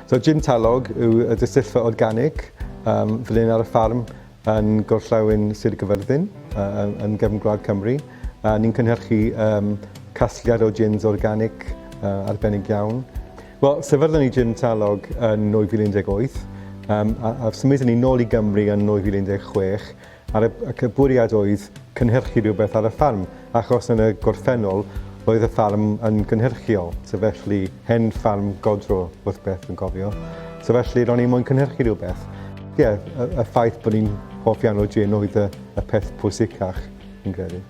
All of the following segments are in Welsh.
So Jim Talog yw y disyllfa organig um, fel un ar y ffarm yn gorllewin Sir Gyfyrddin, uh, yn gefn gwlad Cymru. Uh, ni'n cynhyrchu um, casgliad o gins organic uh, arbennig iawn. Wel, sefydlon ni Jim Talog yn 2018 um, a, a symud ni nôl i Gymru yn 2016 Ar y, ac y bwriad oedd cynhyrchu rhywbeth ar y ffarm, achos yn y gorffennol roedd y ffarm yn gynhyrchiol, so felly hen ffarm godro wrth beth yn cofio, so felly ro'n i'n moyn cynhyrchu rhywbeth. Ie, yeah, y, y ffaith bod ni'n hoff iawn o gin oedd y, y peth pwysicach, yn credu.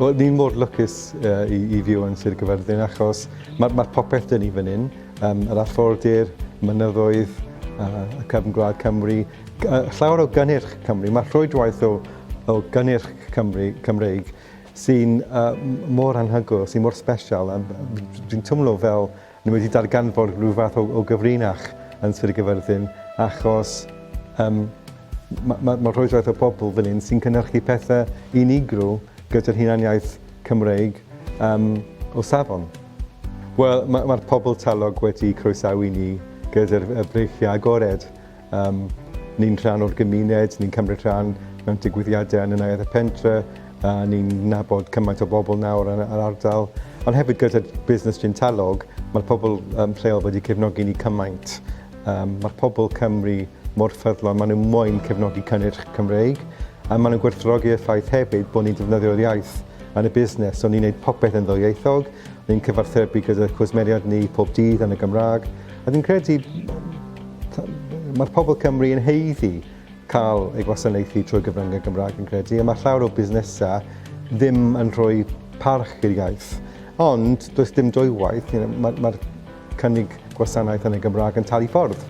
Wel, ni'n mor lwcus uh, i, i fyw yn Sir Gyfyrddin achos mae'r ma popeth dyn ni fan hyn, um, yr affordir, mynyddoedd, uh, y cefn gwlad Cymru, Llawer o gynnyrch Cymru, mae rhwydwaith o, o gynnyrch Cymru, Cymreig sy'n uh, mor anhygoel, sy'n mor special. Dwi'n twmlo fel ni wedi darganfod rhyw fath o, o gyfrinach yn Sir Gyfyrddin, achos um, mae ma, ma rhwydwaith o bobl fan hyn sy'n cynnyrchu pethau unigryw gyda'r hunaniaeth Cymreig um, o safon. Wel, mae'r ma pobl talog wedi croesawu ni gyda'r breichiau agored Um, ni'n rhan o'r gymuned, ni'n cymryd rhan mewn digwyddiadau yn y neuadd y pentre, a ni'n nabod cymaint o bobl nawr yn yr ardal. Ond hefyd gyda busnes Gintalog, mae'r pobl um, lleol wedi cefnogi ni cymaint. Um, mae'r pobl Cymru mor ffyddlon, maen nhw'n moyn cefnogi cynnyrch Cymreig, a maen nhw'n gwerthrogi y ffaith hefyd bod ni'n defnyddio'r iaith yn y busnes, so ni'n gwneud popeth yn ddwyieithog, ni'n cyfarthrebu gyda cwsmeriad ni pob dydd yn y Gymraeg, A fi'n credu mae'r pobl Cymru yn heiddi cael ei gwasanaethu trwy gyfryngau Gymraeg yn credu, a mae llawer o busnesau ddim yn rhoi parch i'r iaith. Ond does dim dwywaith, you know, mae'r ma cynnig gwasanaeth yn y Gymraeg yn talu ffordd.